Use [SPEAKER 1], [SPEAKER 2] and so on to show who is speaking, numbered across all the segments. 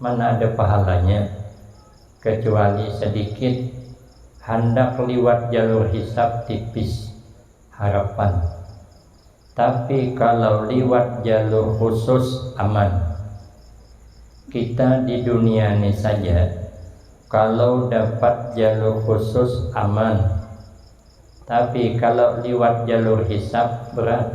[SPEAKER 1] Mana ada pahalanya, kacuali sadikit handak liwat jalur hisab tipis, harapan. Tapi kalau liwat jalur khusus aman. Kita di dunia ni saja kalau dapat jalur khusus aman, tapi kalau liwat jalur hisab berat.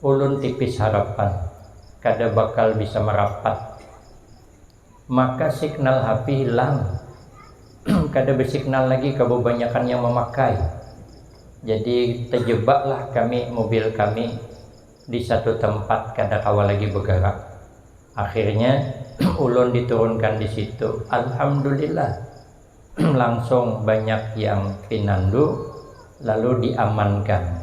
[SPEAKER 1] Ulun tipis harapan kada bakal bisa marapat. Maka signal hapi hilang, kada besignal lagi kababanyakan yang mamakai. Jadi tajebaklah kami mobil kami di satu tempat kada kawa lagi bagarak. Akhirnya ulun diturunkan di situ. Alhamdulillah langsung banyak yang pinandu lalu diamankan.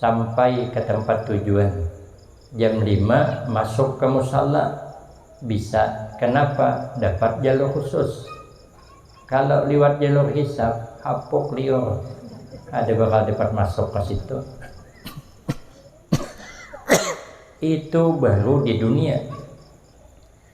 [SPEAKER 1] Sampai ka tampat tujuan jam lima masuk ka musalla bisa kanapa dapat jalur khusus. Kalo liwat jalur hisab hapuk liur kada bakal dapat masuk ka situ. Itu baru di dunia.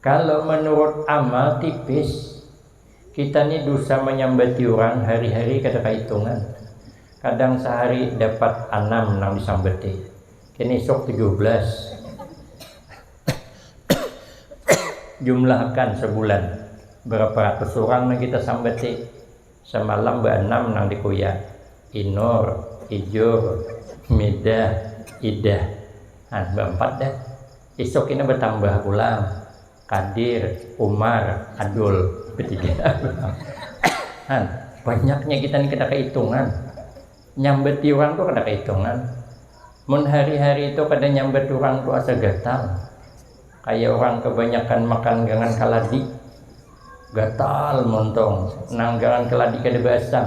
[SPEAKER 1] Kalau menurut amal tipis, kita ni dusa manyambati urang hari-hari kada kahitungan. Kadang sahari dapat anam nang disambati, kin isuk tujuh belas. Jumlahakan sabulan barapa ratus urang nang kita sambati, samalam baanam nang dikuya, Inur, Ijur, Midah, Idah. Nah, baampat dah. Isuk kini batambah pulang Kadir, Umar, Adul, batiga pulang. Han, banyaknya kita ni kada kahitungan. Nyambati urang tu kada kahitungan. Mun hari-hari tu kada nyambat urang tu asa gatal. Kaya urang kabanyakan makan gangan kaladi. Gatal muntung, nang gangan kaladi kada baasam.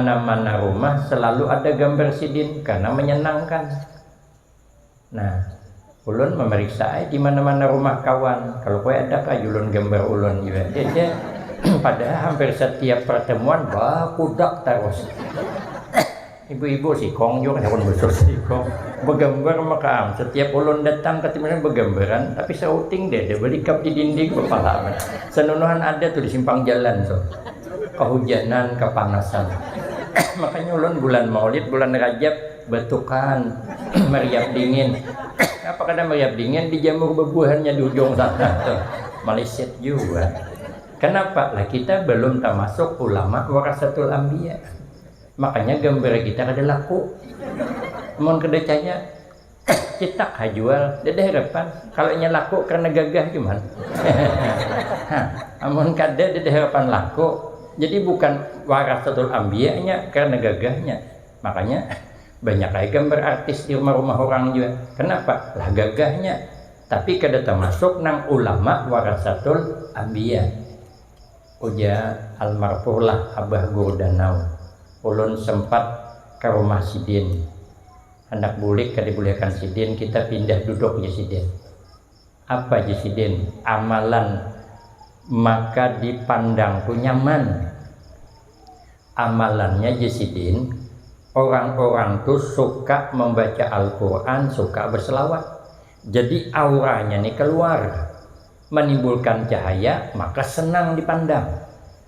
[SPEAKER 1] Dimana-mana rumah selalu ada gambar sidin karena menyenangkan. Nah, ulun memeriksa ay dimana-mana rumah kawan. Kalau kue ada kah julun gambar ulun juga. Padahal hampir setiap pertemuan bakudak terus. Ibu-ibu sikong juga kan besar sikong. Begambar makaam. Setiap ulun datang ke timur begambaran, tapi sauting deh ada belikap di dinding kepala. Senunuhan ada tuh di simpang jalan tuh. kahujanan, kapanasan. Makanya ulun bulan maulid, bulan rajab batukan, meriap dingin. Napa kada meriap dingin dijamur bebuahannya di ujung sana tuh. Malisit jua. Kenapa? Lah kita belum tamasuk ulama warasatul ambiya. Makanya gambar kita kada laku. Mun kada caya es cetak ha jual dada harapan kalau nya laku karena gagah cuman amun kada dada harapan laku jadi bukan warasatul ambiya nya karena gagahnya makanya banyak ai gambar artis di rumah-rumah orang jua kenapa lah gagahnya tapi kada tamasuk nang ulama warasatul ambiya ujar almarfurlah abah guru danau ulun sempat karumah sidin. Handak bulik kada dibulihakan sidin, kita pindah duduk jar sidin. Apa jar sidin, amalan maka dipandang tu nyaman. Amalannya jar sidin, orang-orang tu suka mambaca Al-Qur'an, suka berselawat. Jadi auranya ni kaluar, manimbulkan cahaya, maka senang dipandang.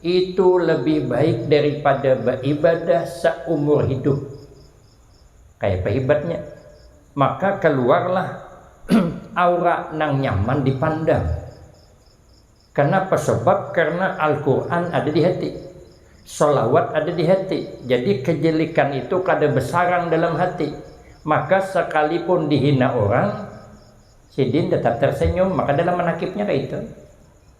[SPEAKER 1] Itu lebih baik daripada baibadah saumur hidup. Kayapa hibatnya? Maka kaluarlah aura nang nyaman dipandang. Kanapa? Sabab karna Al-Qur'an ada di hati, shalawat ada di hati, jadi kajilikan itu kada basarang dalam hati. Maka sakalipun dihina urang, sidin tatap tarsenyum, maka dalam manakibnya kaytu.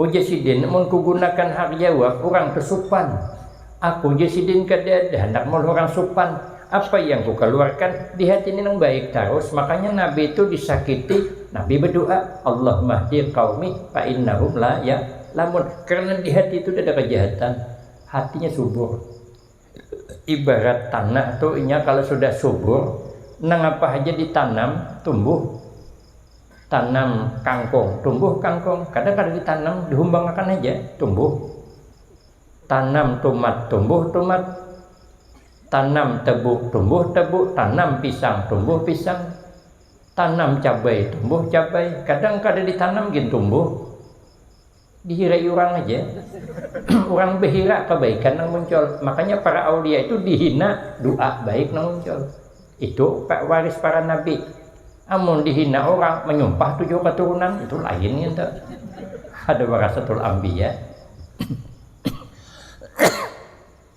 [SPEAKER 1] Ujar sidin, mun kugunakan hak jawab urang tu supan. Aku jar sidin kada ada handak maulah urang supan. Apa yang kukaluarkan di hati ni nang baik tarus, makanya Nabi tu disakiti, Nabi badoa, Allahumma hdi qaumi fa innahum la ya lamun. Karena di hati tu kadada kajahatan, hatinya subur. ibarat tanah tu inya kalau sudah subur nang apa haja ditanam tumbuh tanam kangkung tumbuh kangkung kada kada ditanam dihumbangakan haja tumbuh tanam tumat tumbuh tumat tanam tebu tumbuh tebu tanam pisang tumbuh pisang tanam cabai tumbuh cabai kadang kada ditanam gin tumbuh dihirai urang haja urang behira kebaikan nang muncul makanya para aulia itu dihina dua baik nang muncul itu waris para nabi amun dihina urang menyumpah tujuh keturunan itu lain itu ada warasatul ambiya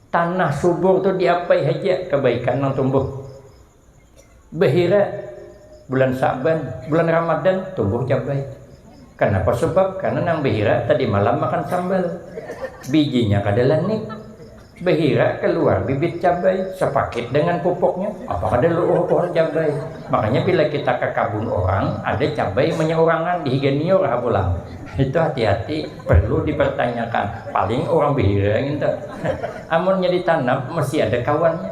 [SPEAKER 1] tanah subur tu diapai haja kebaikan nang tumbuh Bahira bulan Sa'ban, bulan Ramadan tumbuh cabai. Kanapa sabab? Karena nang bahira tadi malam makan sambal. Bijinya kada lanik. Bahira kaluar bibit cabai sapakit dengan pupuknya. Apa kada lu'uh pohon cabai. Makanya bila kita ka kabun orang, ada cabai manyaurangan di higa niur ha pulang. Itu hati-hati perlu dipertanyakan. Paling urang bahira ngintu. Amunnya ditanam mesti ada kawannya.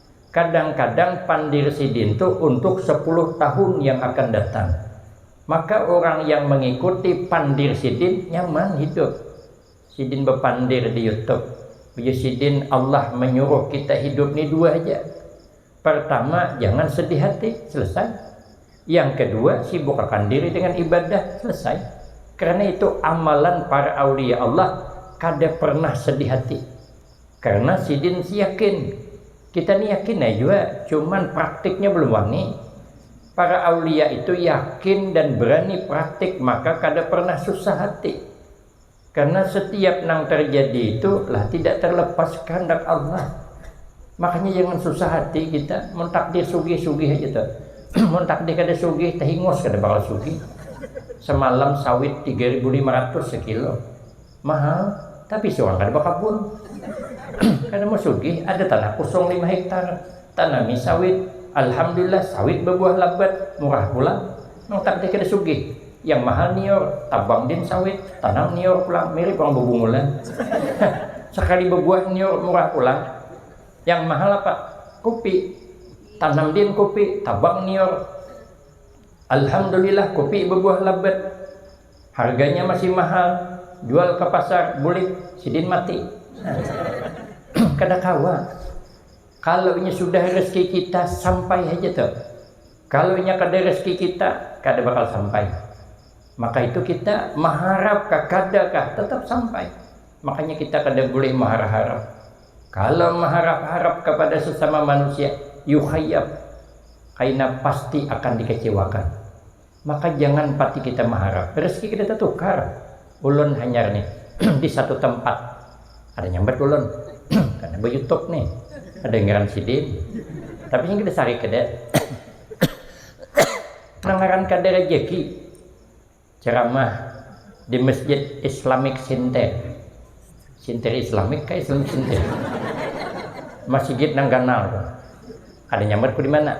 [SPEAKER 1] Kadang-kadang pandir sidin tu untuk sepuluh tahun yang akan datang. Maka urang yang mengikuti pandir sidin nyaman hidup. Sidin bepandir di YouTube, ujar sidin Allah menyuruh kita hidup ni dua haja. Pertama jangan sedih hati, selesai. Yang kedua sibukakan diri dengan ibadah, selesai. Karena itu amalan para aulia Allah kada pernah sedih hati. Karena sidin si yakin. Kita ni yakin ai jua, cuman praktiknya belum wani. Para aulia itu yakin dan berani praktik maka kada pernah susah hati. Karena setiap nang terjadi itu lah tidak terlepas kehendak Allah. Makanya jangan susah hati kita, mun takdir sugih sugih haja tuh. mun takdir kada sugih tehingus kada bakal sugih. Semalam sawit tiga ribu lima ratus sekilo. Mahal, tapi surang kada bakabun. Kada mau sugih, ada tanah kosong lima hektar, tanami sawit. Alhamdulillah, sawit babuah labat, murah pulang. Nang tagdih kada sugih, yang mahal nior, tabang din sawit, tanam nior pulang, mirip urang bebungulan. Sakali babuah nior murah pulang. Yang mahal apa? Kupi. Tanam din kupi, tabang nior. Alhamdulillah, kupi babuah labat. Harganya masih mahal, jual ka pasar bulik sidin mati. Kada kawa. Kalau inya sudah rezeki kita sampai haja tu. Kalau inya kada rezeki kita kada bakal sampai. Maka itu kita maharap kah kada kah tetap sampai. Makanya kita kada bulih maharap-harap. Kalau maharap-harap kepada sesama manusia, yukhayyab, kaina pasti akan dikecewakan. Maka jangan pati kita maharap rezeki kita tatukar, ulun hanyar nih di satu tempat ada nyambat ulun karena ba youtube nih ada ngaran sidin tapi yang kita cari kada nang ngaran kada rezeki ceramah di masjid Islamic Center Center Islamic kah Islamic Center masjid nang ganal ada nyambat ku di mana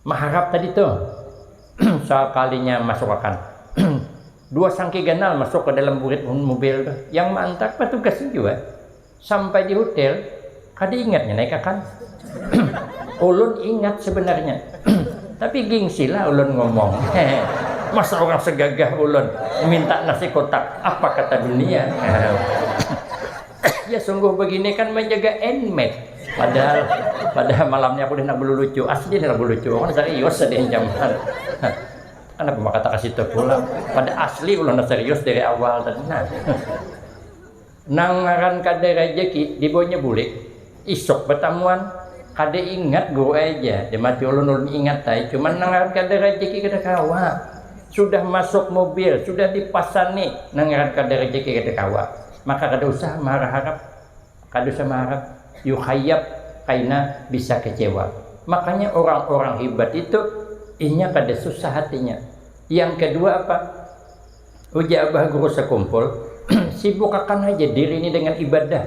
[SPEAKER 1] Maharap tadi tu sakalinya masukakan dua sangki ganal masuk ka dalam burit mubil tu. Yang maantar patugas ni jua. Sampai di hutel kada ingat nya naik akan. Ulun ingat sebenarnya tapi gingsi lah ulun ngomong. Masa urang segagah ulun minta nasi kotak apa kata dunia. ya sungguh begini kan menjaga enmet padahal padahal malamnya aku hendak lucu asli hendak lucu kan serius ada yang jaman kenapa maka tak kasih tahu pula pada asli ulah serius dari awal tadi nah nangaran kada rejeki dibonya bulik Isuk batamuan. Kada ingat guru ai ja, jar mati ulun, ulun ingat ai cuman nang ngaran kada rajeki kada kawa. Sudah masuk mubil, sudah dipasani, nang ngaran kada rajeki kada kawa. Maka kada usah marharap, kada usah maharap yukhayab kaina bisa kecewa. Makanya urang urang hibat itu inya kada susah hatinya. Yang kedua apa, ujar abah guru sakumpul, sibukakan haja diri ini dengan ibadah.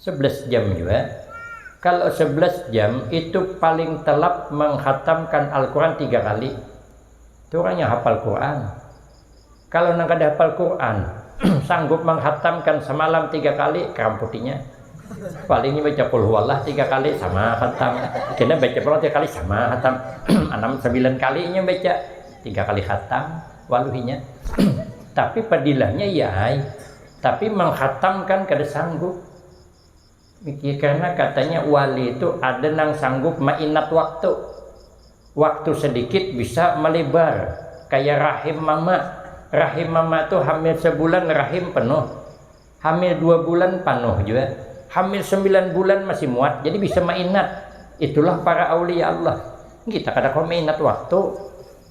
[SPEAKER 1] Sebelas jam jua, kalo sebelas jam itu paling telap menghatamkan Alquran tiga kali, tu urang yang hafal Quran, kalo nang kada hafal Quran sanggup menghatamkan semalam tiga kali keramput inya, paling inya baca qulhuwallah tiga kali sama hatam, kena baca pulang tiga kali sama hatam, anam sembilan kali inya baca tiga kali hatam waluh inya, tapi padilahnya iya ai tapi menghatamkan kada sanggup mikir karena katanya wali itu ada nang sanggup mainat waktu waktu sedikit bisa melebar kaya rahim mama rahim mama itu hamil sebulan rahim penuh hamil dua bulan panuh jua hamil sembilan bulan masih muat jadi bisa mainat itulah para aulia Allah kita kada kawa mainat waktu.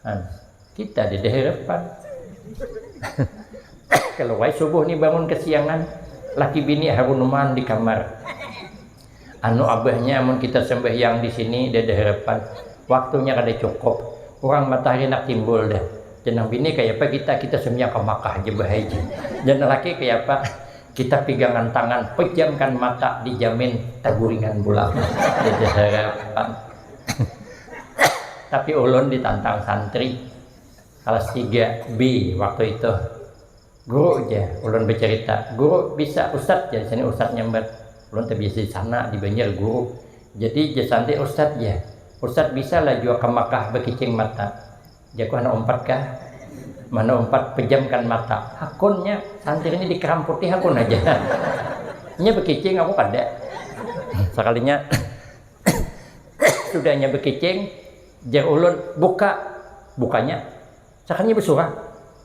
[SPEAKER 1] Nah, kita di daerah pan. Kalau wai subuh nih bangun kesiangan, laki bini harunuman di kamar. Anu abahnya amun kita sembahyang di sini di daerah pan, waktunya kada cukup. Orang matahari nak timbul dah. Jenang bini kaya apa kita, kita sembahyang ka Makkah aja bahaji. Jenang laki kaya apa, kita pigangan tangan, pejamkan mata, dijamin taguringan pulang di daerah pan. Tapi ulun ditantang santri kelas 3 B waktu itu. Guru ja, ulun bercerita, guru bisa ustad ja sini ustad nyambat. Ulun terbiasa di sana di Banjar guru. Jadi ja santri ustad ja. Ustad bisa lah jua ke Makkah berkicing mata. Jaku handak umpat kah? Mana umpat pejamkan mata. Hakunnya santri ini dikeramputi hakun aja. Nya berkicing aku kada. Sekalinya Dudanya bekicing, jer ulun, buka. Bukanya, sakalinya besurah.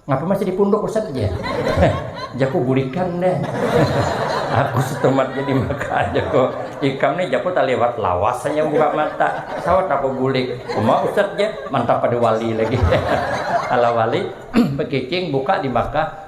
[SPEAKER 1] Ngapa masih di punduk Ustaz aja? jaku bulikan deh. Aku setumat jadi maka jaku ikam nih jaku tak lewat lawas hanya buka mata. Sawat aku bulik. Cuma Ustaz aja mantap pada wali lagi. Ala wali bekicing buka di Makkah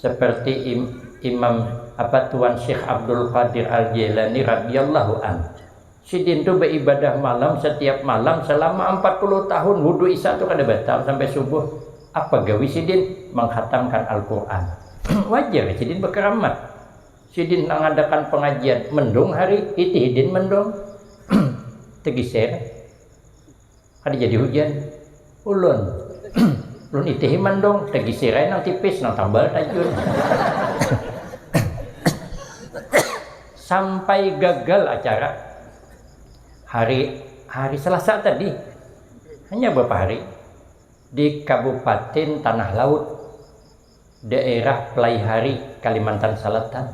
[SPEAKER 1] seperti Imam apa Tuan Syekh Abdul Qadir Al-Jailani radhiyallahu an. Sidin tu beribadah malam setiap malam selama 40 tahun wudu isya tu kada batal sampai subuh. Apa gawi sidin? Menghatamkan Al-Quran. Wajar sidin berkeramat. Sidin mengadakan pengajian mendung hari, hiti hidin mendung. Tegiser. Kada jadi hujan. Ulun. Ulun itihi mandung, tagisi rai nang tipis, nang tambal tajun. Sampai gagal acara. Hari hari Selasa tadi. Hanya berapa hari. Di Kabupatin Tanah Laut. daerah Pelaihari, Kalimantan Salatan.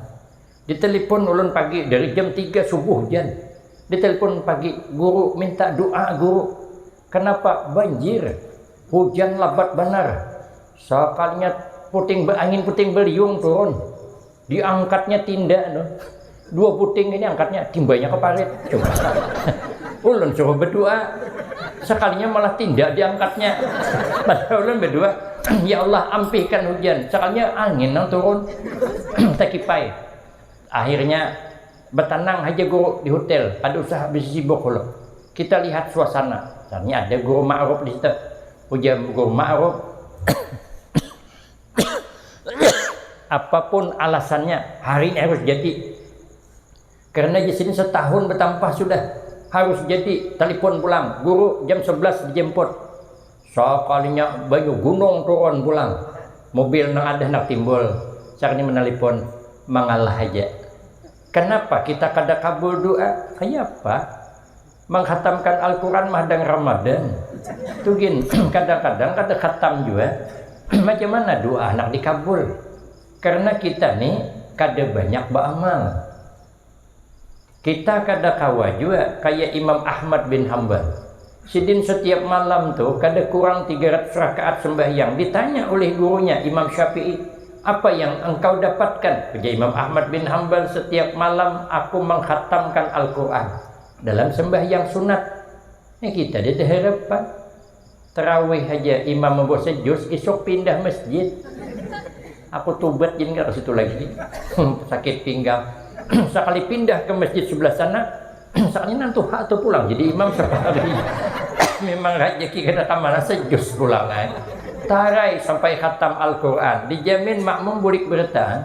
[SPEAKER 1] Ditelepon ulun pagi dari jam tiga subuh jan. Ditelepon pagi, guru minta doa guru. Kenapa? Banjir. Hujan labat banar. Sakalinya puting beangin puting beliung turun. Diangkatnya tinda no. Dua puting ini angkatnya timbanya ke parit. Coba. ulun suruh berdoa. Sekalinya malah tinda diangkatnya. Padahal ulun berdoa, ya Allah ampihkan hujan. Sekalinya angin nang turun. Tekipai. Akhirnya bertenang aja guru di hotel. Ada usah habis sibuk ulun. Kita lihat suasana. Tanya ada guru ma'ruf di situ. Ujar guru ma'ruf. Apapun alasannya, hari ini harus jadi. Karena di sini setahun bertambah sudah harus jadi. Telepon pulang, guru jam 11 dijemput. Sekalinya banyu gunung turun pulang. Mobil nang ada nak timbul. Sakni menelpon, mengalah aja. Kenapa kita kada kabul doa? Kayapa? menghatamkan Al-Quran madang Ramadan tu gin kadang-kadang kada khatam jua macam mana doa handak dikabul karena kita ni kada banyak baamal kita kada kawa jua kaya Imam Ahmad bin Hambal sidin setiap malam tu kada kurang tiga ratus rakaat sembahyang ditanya oleh gurunya Imam Syafi'i apa yang engkau dapatkan ujar Imam Ahmad bin Hambal setiap malam aku menghatamkan Al-Quran Dalam sembahyang sunat nih kita ja teharapan terawih haja imam membaca juz isuk pindah masjid aku tubat gin kada kasitu lagi sakit pinggang sakali pindah ke masjid sebelah sana sakalinya nang tuha tu pulang jadi imam sehari memang rajaki kada kamana sejuz pulang ai tarai sampai khatam alquran dijamin makmum bulik bertahan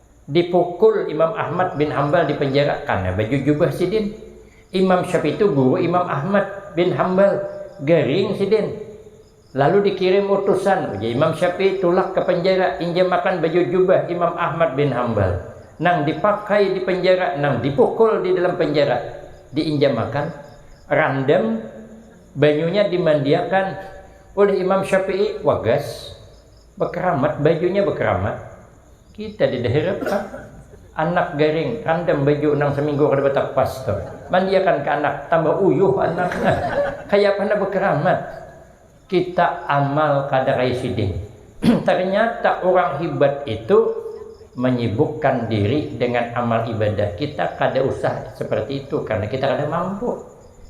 [SPEAKER 1] dipukul Imam Ahmad bin Hambal dipenjara karena baju jubah sidin. Imam Syafi'i itu guru Imam Ahmad bin Hambal, garing sidin. Lalu dikirim utusan, ujar Imam Syafi'i tulak ke penjara injamakan baju jubah Imam Ahmad bin Hambal nang dipakai di penjara nang dipukul di dalam penjara diinjamakan randam banyunya dimandiakan oleh Imam Syafi'i wagas Bakeramat, bajunya bakeramat, kita di dahiran pang. Anak garing, randam baju nang saminggu kada batapas tu. Mandiakan ka anak, tambah uyuh anak. Kayapa handak bakeramat. Kita amal kada kaya sidin. Ternyata urang hibat itu manyibukkan diri dengan amal ibadah. Kita kada usah seperti itu karena kita kada mampu.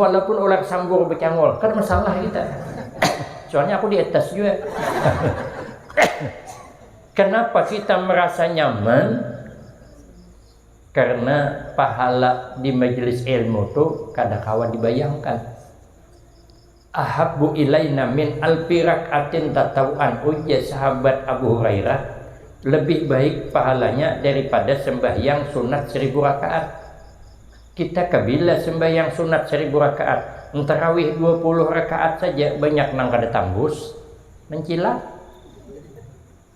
[SPEAKER 1] walaupun ular sambur bercangol kada masalah kita soalnya aku di atas juga kenapa kita merasa nyaman karena pahala di majelis ilmu tu kada kawa dibayangkan Ahabbu ilaina min alfi rak'atin tatawu'an, ujar sahabat Abu Hurairah, lebih baik pahalanya daripada sembahyang sunat seribu rakaat. Kita kabila sembahyang sunat seribu rakaat, tarawih dua puluh rakaat saja banyak nang kada tambus, mancilak.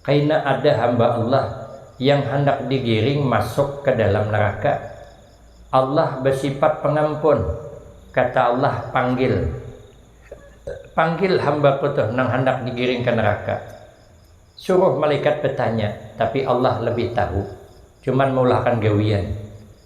[SPEAKER 1] Kaina ada hamba Allah yang handak digiring masuk ka dalam neraka. Allah basifat Pangampun. Kata Allah, Panggil. Panggil hamba-Ku tuh nang handak digiring ka neraka. Suruh malaikat batanya, tapi Allah labih tahu. Cuman maulahkan gawian.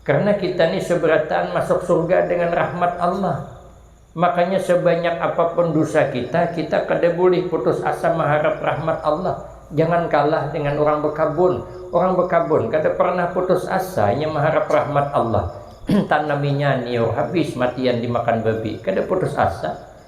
[SPEAKER 1] Karena kita ni seberataan masuk surga dengan rahmat Allah. Makanya sebanyak apapun dusa kita, kita kada bulih putus asa maharap rahmat Allah. Jangan kalah dengan urang bekabun. Urang bekabun kada pernah putus asa inya maharap rahmat Allah. Tanaminya niur habis matian dimakan babi, kada putus asa.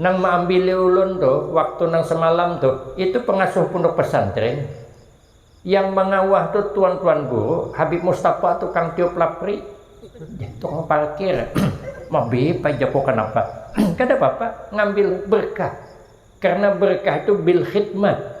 [SPEAKER 1] Nang maambili ulun tu waktu nang semalam tu itu pengasuh punduk pesantren, yang mangawah tu tuan-tuan guru, habib mustafa tu kang tiup lapri, tukang parkir, mabib ai jaku kanapa, kada papa ngambil berkah karena berkah itu bilkhidmat.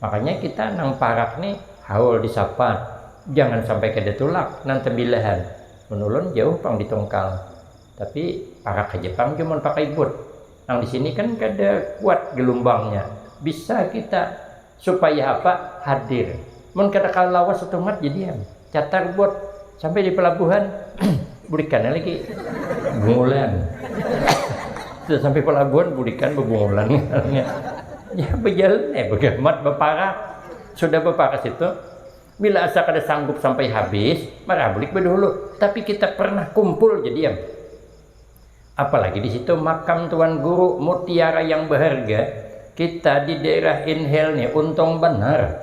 [SPEAKER 1] makanya kita nang parak ni haul di sapa jangan sampai kada tulak nang tembilahan mun ulun jauh pang di tungkal tapi parak haja pang jua mun pakai but nang di sini kan kada kuat gelumbangnya bisa kita supaya apa hadir mun kada kawa lawas satumat jadian. Catar bot sampai di pelabuhan bulikan lagi bungulan sudah sampai pelabuhan bulikan bebungulan ya berjalan eh begamat beparak sudah beparak situ bila asa kada sanggup sampai habis marah bulik bedulu tapi kita pernah kumpul jadi yang apalagi di situ makam tuan guru mutiara yang berharga kita di daerah inhale nih untung benar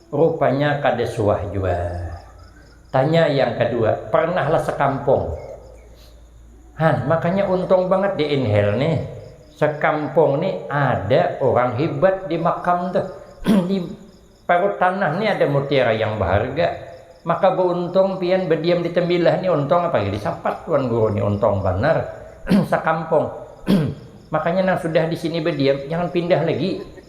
[SPEAKER 1] Rupanya kada suah jua. Tanya yang kadua, pernah lah sekampung? Han, makanya untung banget di inhale nih. Sekampung nih ada orang hibat di makam tuh. di parut tanah nih ada mutiara yang baharga. Maka beuntung pian bediam di tembilah nih untung apalagi disapat wan guru nih untung banar. sekampung. makanya nang sudah di sini bediam jangan pindah lagi.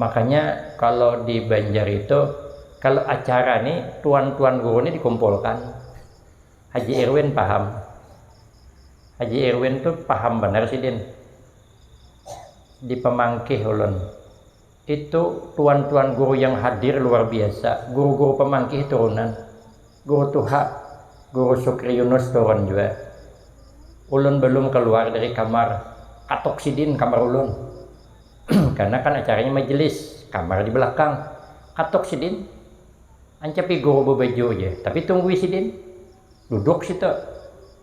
[SPEAKER 1] Makanya kalo di banjar itu kalo acara ni tuan tuan guru ni dikumpulkan haji irwin paham haji irwin tu paham banar sidin di pamangkih ulun itu tuan tuan guru yang hadir luar biasa guru guru pamangkih turunan guru tuha guru sukri yunus turun jua ulun balum kaluar dari kamar katok sidin kamar ulun. karna kan acaranya majelis, kamar di belakang. Katok sidin, ancapi guru bebaju ja, tapi tunggui sidin. Duduk situ,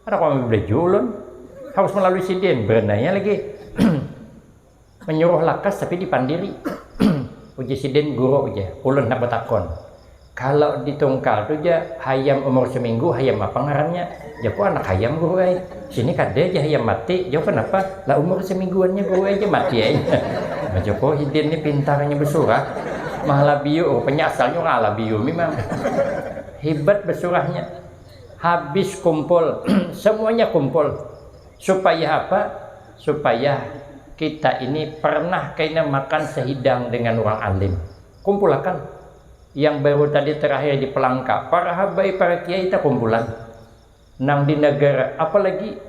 [SPEAKER 1] kada kawa mibelaju ulun, harus melalui sidin, berenanya lagi. Menyuruh lakas tapi dipandiri, ujar sidin guru ja, ulun handak betakun. Kalo di Tungkal tu ja hayam umur seminggu hayam apa ngarannya? Jaku anak hayam guru ai. Sini kada ja hayam mati, jau kenapa? Lah umur semingguannya guru ai ja mati ai. Nah jaku oh hidin ni pintarnya besurah. Mahalabiyu rupanya asalnya urang Alabiyu mimang. Hibat besurahnya. Habis kumpul, semuanya kumpul. Supaya apa? Supaya kita ini pernah kaina makan sehidang dengan urang alim. Kumpulakan. yang baru tadi terakhir di Pelangka, para habai para kiai takumpulan nang di nagara, apalagi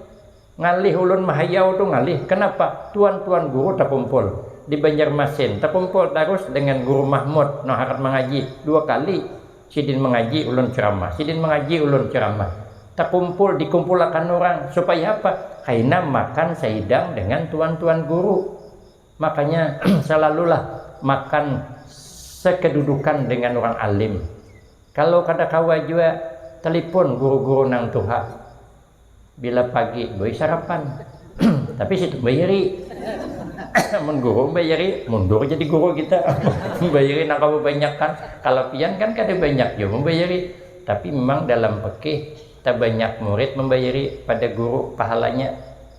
[SPEAKER 1] ngalih ulun mahayau tu ngalih, kanapa tuan-tuan guru takumpul di Banjarmasin, takumpul tarus dengan Guru Mahmud nang harat mangaji, dua kali sidin mangaji ulun ceramah, sidin mangaji ulun ceramah, takumpul dikumpulakan urang supaya apa, kaina makan sahidang dengan tuan-tuan guru. Makanya salalulah makan sekedudukan dengan urang alim. Kalau kada kawa jua telipon guru-guru nang tuha. Bila pagi doi sarapan. Tapi situ bairi. Amun guru bairi mundur jadi guru kita. bairi nang kawa banyak kan. Kalau pian kan kada banyak jua membairi. Tapi memang dalam pekih tabanyak murid membairi pada guru pahalanya.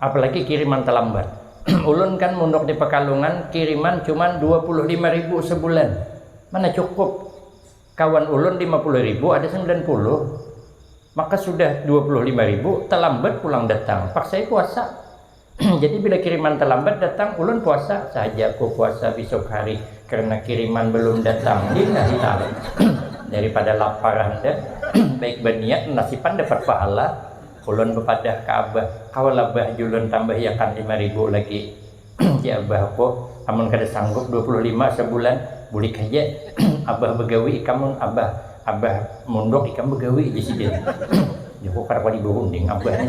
[SPEAKER 1] Apalagi kiriman talambat. Ulun kan munduk di Pekalungan kiriman cuman dua puluh lima ribu sebulan. Mana cukup. Kawan ulun lima puluh ribu ada sembilan puluh. Maka sudah dua puluh lima ribu talambat pulang datang. Paksai puasa. Jadi bila kiriman talambat datang ulun puasa. Sahaja ku puasa bisuk hari karena kiriman belum datang. Lillahi ta'ala. Daripada lapar handa baik baniat nasipan dapat pahala. Ulun bapadah ka abah, kawalah bah julun tambahiakan lima ribu lagi jar abahku, amun kada sanggup dua puluh lima sabulan bulik haja abah bagawi ikam mun abah abah munduk ikam bagawi jar sidin, jahukar wali bahunding abah nih.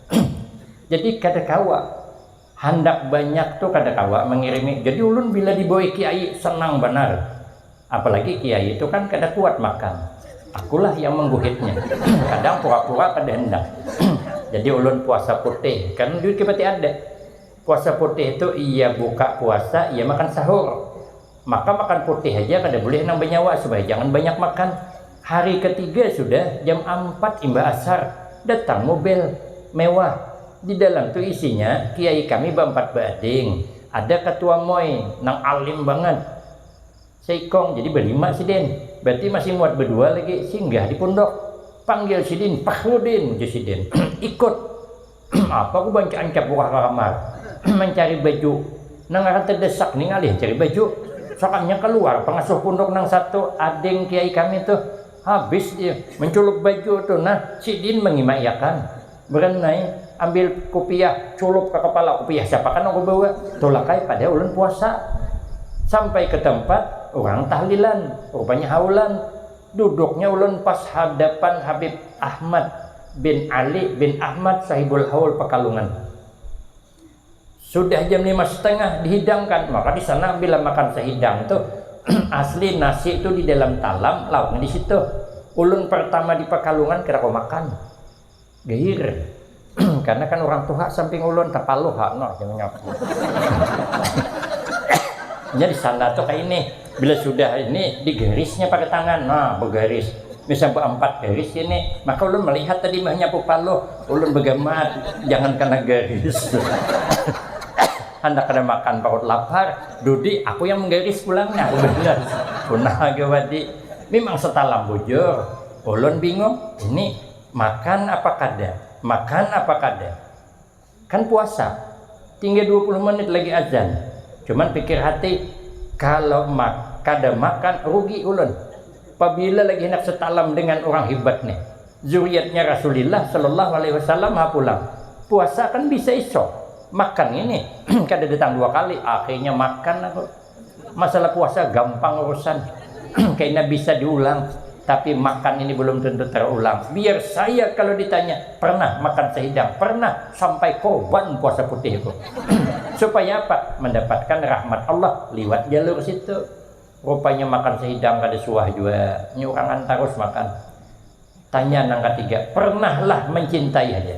[SPEAKER 1] jadi kada kawa handak banyak tu kada kawa mangirimi jadi ulun bila dibawa kiai senang banar apalagi kiai tu kan kada kuat makan akulah yang mangguhitnya kadang pura-pura kada handak jadi ulun puasa putih karna duit kipati ada Puasa putih tu iya buka puasa iya makan sahur, maka makan putih haja kada bulih nang banyawa supaya jangan banyak makan. Hari katiga sudah jam ampat imbah ashar datang mubel mewah di dalam tu isinya kiai kami baampat baading ada katua moi nang alim bangat seikong jadi balima sidin berarti masih muat badua lagi singgah di pundok panggil sidin Fakhrudin ujar sidin ikut Apa ku banca ancap buka ka kamar mancari baju, nang ngaran tedesak ni ngalih cari baju. Sakannya kaluar pangasuh punduk nang satu, ading kiai kami tuh. Habis dia menculuk baju tuh nah, sidin mangimai akan. Beren ai, ambil kupiah, culup ka kapala, kupiah siapa kah nang ku bawa. Tulak ai pada ulun puasa. Sampai ke tempat, urang tahlilan, rupanya haulan. Duduknya ulun pas hadapan Habib Ahmad bin Ali bin Ahmad Sahibul Haul Pekalungan. Sudah jam lima setengah dihidangkan, maka di sana bila makan sehidang tu asli nasi tu di dalam talam, lauknya di situ. Ulun pertama di Pekalungan kada kawa makan. Geir, karena kan urang tuha samping ulun tapaluh ha noh jar nyaku. Nya di sana tu kaya ini, bila sudah ini di garisnya pakai tangan, nah begaris, misal beampat garis ini, maka ulun melihat tadi meh nyapu paluh, ulun begamat jangan kena garis. Handak kada makan parut lapar, dudi aku yang menggaris pulang nah aku balas, puna haga wadi. Mimang setalam bujur, ulun bingung ini. Makan apa kada? Makan apa kada? Kan puasa, tinggal dua puluh menit lagi azan. Cuman pikir hati, kalau mak kada makan rugi ulun. Pabila lagi handak satalam dengan urang hibat nih, zuriatnya Rasulillah Shallallahu Alaihi Wasallam ha pulang. Puasa kan bisa esok, makan ini kadada tang dua kali, akhirnya makan aku. Masalah puasa gampang urusan, kena bisa diulang, tapi makan ini belum tentu terulang. Biar saya kalau ditanya, pernah makan sehidang, pernah, sampai korban puasa putih aku. Supaya apa? Mendapatkan rahmat Allah liwat jalur situ. Rupanya makan sehidang kada suah jua, nyurangan tarus makan. Tanya nang katiga, pernahlah mencintai haja.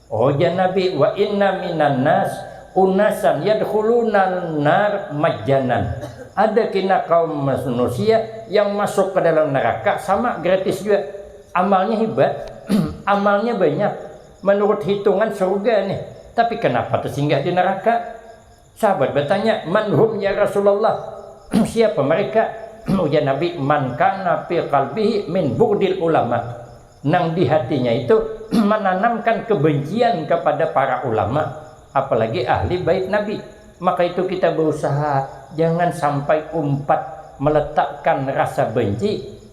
[SPEAKER 1] Ujar Nabi, wa inna minan nas unasan yadkhulunal nar majjanan, ada kina kaum manusia yang masuk ka dalam neraka sama gratis jua, amalnya hibat, amalnya banyak, manurut hitungan surga nih, tapi kanapa tasinggah di neraka. Sahabat batanya, Man hum ya Rasulullah, siapa mereka? Ujar Nabi, Man kana fi qalbihi min bughdil ulama, nang di hatinya itu mananamkan kebencian kepada para ulama, apalagi ahli bait Nabi. Maka itu kita bausaha jangan sampai umpat meletakkan rasa benci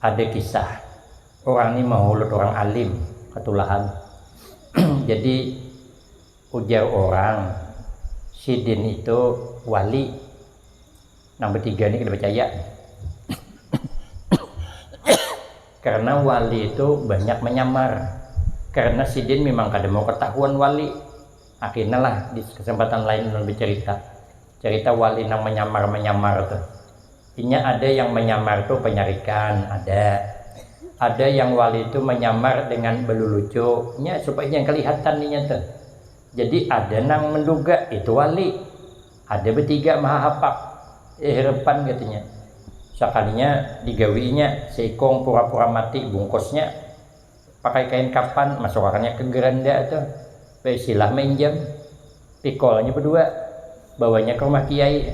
[SPEAKER 1] Ada kisah, urang ni mahulut urang alim katulahan. Jadi ujar urang sidin itu wali. Nang batiga ni kada bacaya. Karna wali itu banyak manyamar. Karna sidin mimang kada mau katahuan wali. Akina lah di kesempatan lain ulun bacarita, carita wali nang manyamar-manyamar tu. Inya ada yang menyamar tu penyarikan, ada. Ada yang wali tu menyamar dengan belulucu, nya supaya jangan kelihatan inya tu. Jadi ada nang menduga itu wali. Ada betiga mahahapak, eh repan katanya. Sakalinya digawi inya, seikung pura-pura mati bungkusnya. Pakai kain kapan, masukakannya ke geranda tu, baisilah mainjam. Pikolnya bedua, bawanya ke rumah kiai.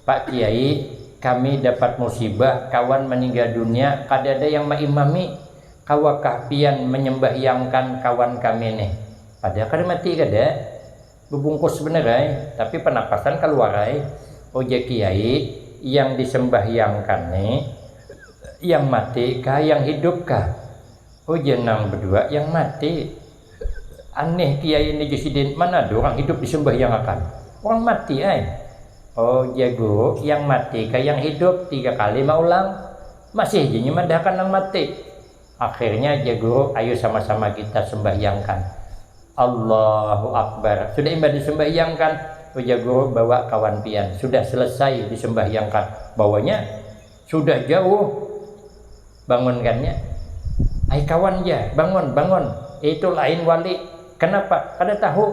[SPEAKER 1] Pak kiai, kami dapat musibah, kawan maninggal dunia, kadada yang maimami, kawakah pian manyambahyangkan kawan kami nih? Pada kada mati kada? Bebungkus bener ai, tapi penapasan kaluar ai, ujar kiai yang disembahyangkan ni yang mati kah yang hidup kah, ujar nang bedua yang mati, anih kiai ni ju sidin mana ada orang hidup disembahyangakan, orang mati ai, ujar guru yang mati kah yang hidup tiga kali maulang, masih ja nya madahakan nang mati, Akhirnya jar guru ayu sama-sama kita sembahyangkan. Allahu Akbar, sudah imbah disumbahyangkan, ujar guru bawa kawan pian, sudah selesai disumbahyangkan, bawanya sudah jauh bangunkannya, ai kawan jar, bangun, bangun, itu lain wali, kenapa, kada tahu.